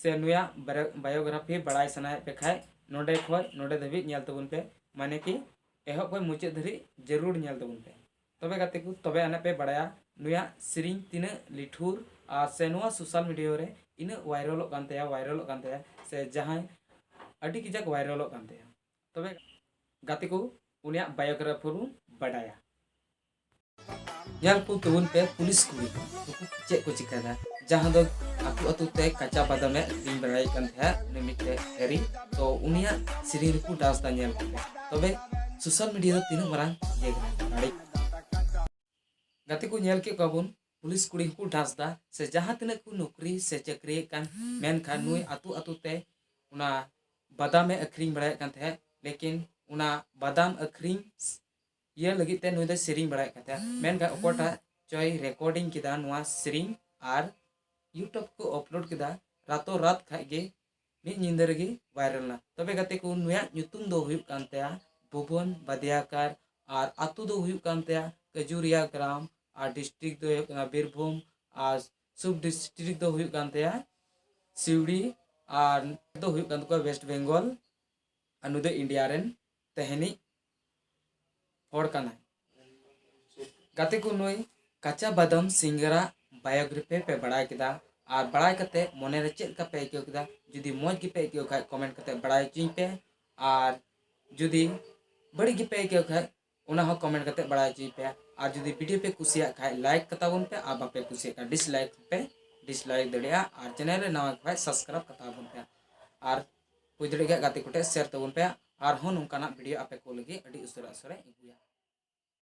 ᱥᱮ ᱱᱩᱭᱟᱜ ᱵᱟᱭᱳᱜᱨᱟᱯᱷᱤ ᱵᱟᱲᱟᱭ ᱥᱟᱱᱟᱭᱮᱫ ᱯᱮ ᱠᱷᱟᱡ ᱱᱚᱰᱮ ᱠᱷᱚᱡ ᱱᱚᱰᱮ ᱫᱷᱟᱹᱵᱤᱡ ᱧᱮᱞ ᱛᱟᱵᱚᱱ ᱯᱮ ᱢᱟᱱᱮ ᱠᱤ ᱮᱦᱚᱵ ᱠᱷᱚᱡ ᱢᱩᱪᱟᱹᱫ ᱫᱷᱟᱹᱨᱤᱡ ᱡᱟᱹᱨᱩᱲ ᱧᱮᱞ ᱛᱟᱵᱚᱱ ᱯᱮ ᱛᱚᱵᱮ ᱜᱟᱛᱮ ᱠᱚ ᱛᱚᱵᱮ ᱟᱱᱮ ᱯᱮ ᱵᱟᱲᱟᱭᱟ ᱱᱩᱭᱟᱜ ᱥᱮᱨᱮᱧ ᱛᱤᱱᱟᱹᱜ ᱞᱤᱴᱷᱩᱨ ᱟᱨ ᱥᱮ ᱱᱚᱣᱟ ᱥᱳᱥᱟᱞ ᱢᱤᱰᱤᱭᱟ ᱨᱮ ᱤᱱᱟᱹᱜ ᱵᱷᱟᱭᱨᱟᱞᱚᱜ ᱠᱟᱱ ᱛᱟᱭᱟ ᱵᱷᱟᱭᱨᱟᱞᱚᱜ ᱠᱟᱱ ᱛᱟᱭᱟ ᱥᱮ ᱡᱟᱦᱟᱸᱭ ᱟᱹᱰᱤ ᱠᱟᱡᱟᱠ ᱵᱷᱟᱭᱨᱟᱞᱚᱜ ᱠᱟᱱ ᱛᱟᱭᱟ ᱛᱚᱵᱮ ᱜᱟᱛᱮ ᱠᱚ ᱩᱱᱤᱭᱟᱜ ᱵᱟᱭᱳᱜᱨᱟᱯᱷᱤ ᱵᱚᱱ ᱵᱟᱰᱟᱭᱟ ᱧᱮᱞ ᱠᱚ ᱛᱟᱵᱚᱱ ᱯᱮ ᱯᱩᱞᱤᱥ ᱠᱚ ᱱᱩᱠᱩ ᱪᱮᱫ ᱠᱚ ᱪᱤᱠᱟᱹᱭᱮᱫᱟ ᱡᱟᱦᱟᱸ ᱫᱚ ᱟᱛᱳ ᱟᱛᱳ ᱛᱮ ᱠᱟᱪᱟ ᱵᱟᱫᱟᱢᱮ ᱟᱹᱠᱷᱨᱤᱧ ᱵᱟᱲᱟᱭᱮᱫ ᱠᱟᱱ ᱛᱟᱦᱮᱸᱫ ᱩᱱᱤ ᱢᱤᱫᱴᱮᱡ ᱦᱮᱨᱤ ᱛᱚ ᱩᱱᱤᱭᱟᱜ ᱥᱮᱨᱮᱧ ᱨᱮᱠᱚ ᱰᱟᱱᱥ ᱫᱟ ᱧᱮᱞ ᱠᱚᱯᱮ ᱛᱚᱵᱮ ᱥᱳᱥᱟᱞ ᱢᱤᱰᱤᱭᱟ ᱫᱚ ᱛᱤᱱᱟᱹᱜ ᱢᱟᱨᱟᱝ ᱤᱭᱟᱹ ᱠᱟᱱᱟ ᱫᱟᱲᱮ ᱜᱟᱛᱮ ᱠᱚ ᱧᱮᱞ ᱠᱮᱫ ᱠᱚᱣᱟ ᱵᱚᱱ ᱯᱩᱞᱤᱥ ᱠᱩᱲᱤ ᱦᱚᱸᱠᱚ ᱰᱟᱱᱥ ᱫᱟ ᱥᱮ ᱡᱟᱦᱟᱸ ᱛᱤᱱᱟᱹᱜ ᱠᱚ ᱱᱚᱠᱨᱤ ᱥᱮ ᱪᱟᱹᱠᱨᱤᱭᱮᱫ ᱠᱟᱱ ᱢᱮᱱᱠᱷᱟᱱ ᱱᱩᱭ ᱟᱛᱳ ᱟᱛᱳ ᱛᱮ ᱚᱱᱟ ᱵᱟᱫᱟᱢᱮ ᱟᱹᱠᱷᱨᱤᱧ ᱵᱟᱲᱟᱭᱮᱫ ᱠᱟᱱ ᱛᱟᱦᱮᱸᱫ ᱞᱮᱠᱤᱱ ᱚᱱᱟ ᱵᱟᱫᱟᱢ ᱟᱹᱠᱷᱨᱤᱧ ᱤᱭᱟᱹ ᱞᱟᱹᱜᱤᱫ ᱛᱮ ᱱᱩᱭ ᱫᱚᱭ ᱥᱮᱨᱮᱧ ᱵᱟᱲᱟᱭᱮᱫ ᱠᱟᱱ ᱛᱟᱦᱮᱸᱫ ᱢᱮᱱᱠᱷᱟᱱ ᱚᱠᱚᱭᱴᱟᱜ ᱪᱚᱭ ᱨᱮᱠᱚᱨᱰᱤᱝ ᱠᱮᱫᱟ ᱱᱚᱣᱟ ᱥᱮᱨᱮᱧ ᱟᱨ ᱤᱭᱩᱴᱩᱵᱽ ᱠᱚ ᱟᱯᱞᱳᱰ ᱠᱮᱫᱟ ᱨᱟᱛᱳ ᱨᱟᱛ ᱠᱷᱟᱡ ᱜᱮ ᱢᱤᱫ ᱧᱤᱫᱟᱹ ᱨᱮᱜᱮ ᱵᱷᱟᱭᱨᱟᱞ ᱮᱱᱟ ᱛᱚᱵᱮ ᱜᱟᱛᱮ ᱠᱚ ᱱᱩᱭᱟᱜ ᱧᱩᱛᱩᱢ ᱫᱚ ᱦᱩᱭᱩᱜ ᱠᱟᱱ ᱛᱟᱭᱟ ᱵᱷᱩᱵᱚᱱ ᱵᱟᱫᱤᱭᱟᱠᱟᱨ ᱟᱨ ᱟᱛᱳ ᱫᱚ ᱦᱩᱭᱩᱜ ᱠᱟᱱ ᱛᱟᱭᱟ ᱠᱟᱡᱩᱨᱤᱭᱟ ᱜᱨᱟᱢ ᱟᱨ ᱰᱤᱥᱴᱨᱤᱠ ᱫᱚ ᱦᱩᱭᱩᱜ ᱠᱟᱱᱟ ᱵᱤᱨᱵᱷᱩᱢ ᱟᱨ ᱥᱩᱵ ᱰᱤᱥᱴᱨᱤᱠ ᱫᱚ ᱦᱩᱭᱩᱜ ᱠᱟᱱ ᱛᱟᱭᱟ ᱥᱤᱣᱲᱤ ᱟᱨ ᱫᱚ ᱦᱩᱭᱩᱜ ᱠᱟᱱ ᱛᱟᱠᱚᱣᱟ ᱣᱮᱥᱴ ᱵᱮᱝᱜᱚᱞ ᱟᱨ ᱱᱩᱭ ᱫᱚ ᱤᱱᱰᱤᱭᱟ ᱨᱮᱱ ᱛᱮᱦᱮᱱᱤᱡ ᱦᱚᱲ ᱠᱟᱱᱟᱭ ᱜᱟᱛᱮ ᱠᱚ ᱱᱩᱭ ᱠᱟᱪᱟ ᱵᱟᱫᱟᱢ ᱥᱤᱝᱜᱟᱨᱟ ᱵᱟᱭᱳᱜᱨᱟᱯᱷᱤ ᱯᱮ ᱵᱟᱲᱟᱭ ᱠᱮᱫᱟ ᱟᱨ ᱵᱟᱲᱟᱭ ᱠᱟᱛᱮ ᱢᱚᱱᱮ ᱨᱮ ᱪᱮᱫ ᱞᱮᱠᱟ ᱯᱮ ᱟᱹᱭᱠᱟᱹᱣ ᱠᱮᱫᱟ ᱡᱩᱫᱤ ᱢᱚᱡᱽ ᱜᱮᱯᱮ ᱟᱹᱭᱠᱟᱹᱣ ᱠᱷᱟᱡ ᱠᱚᱢᱮᱱᱴ ᱠᱟᱛᱮ ᱵᱟᱲᱟᱭ ᱦᱚᱪᱚᱧ ᱯᱮ ᱟᱨ ᱡᱩᱫᱤ ᱵᱟᱹᱲᱤᱡ ᱜᱮᱯᱮ ᱟᱹᱭᱠᱟᱹᱣ ᱠᱷᱟᱡ ᱚᱱᱟ ᱦᱚᱸ ᱠᱚᱢᱮᱱᱴ ᱠᱟᱛᱮ ᱵᱟᱲᱟᱭ ᱦᱚᱪᱚᱧ ᱯᱮ ᱟᱨ ᱡᱩᱫᱤ ᱵᱷᱤᱰᱤᱭᱳ ᱯᱮ ᱠᱩᱥᱤᱭᱟᱜ ᱠᱷᱟᱡ ᱞᱟᱭᱤᱠ ᱠᱟᱛᱟᱵᱚᱱ ᱯᱮ ᱟᱨ ᱵᱟᱯᱮ ᱠᱩᱥᱤᱭᱟᱜ ᱠᱷᱟᱡ ᱰᱤᱥᱞᱟᱭᱤᱠ ᱯᱮ ᱰᱤᱥᱞᱟᱭᱤᱠ ᱫᱟᱲᱮᱭᱟᱜᱼᱟ ᱟᱨ ᱪᱮᱱᱮᱞ ᱨᱮ ᱱᱟᱣᱟ ᱠᱷᱟᱡ ᱥᱟᱵᱥᱠᱨᱟᱭᱤᱵ ᱠᱟᱛᱟᱵᱚᱱ ᱯᱮ ᱟᱨ ᱦᱩᱭ ᱫᱟᱲᱮᱭᱟᱜ ᱠᱷᱟᱱ ᱜᱟᱛᱮ ᱠᱚᱴᱷᱮᱱ ᱥᱮᱭᱟᱨ ᱛᱟᱵᱚᱱ ᱯᱮ ᱟᱨᱦᱚᱸ ᱱᱚᱝᱠᱟᱱᱟᱜ ᱵᱷᱤᱰᱤᱭᱳ ᱟᱯᱮ ᱠᱚ ᱞᱟᱹᱜᱤᱫ ᱟᱹᱰᱤ ᱩᱥᱟᱹᱨᱟ ᱩᱥᱟᱹᱨᱟᱧ ᱟᱹᱜᱩᱭᱟ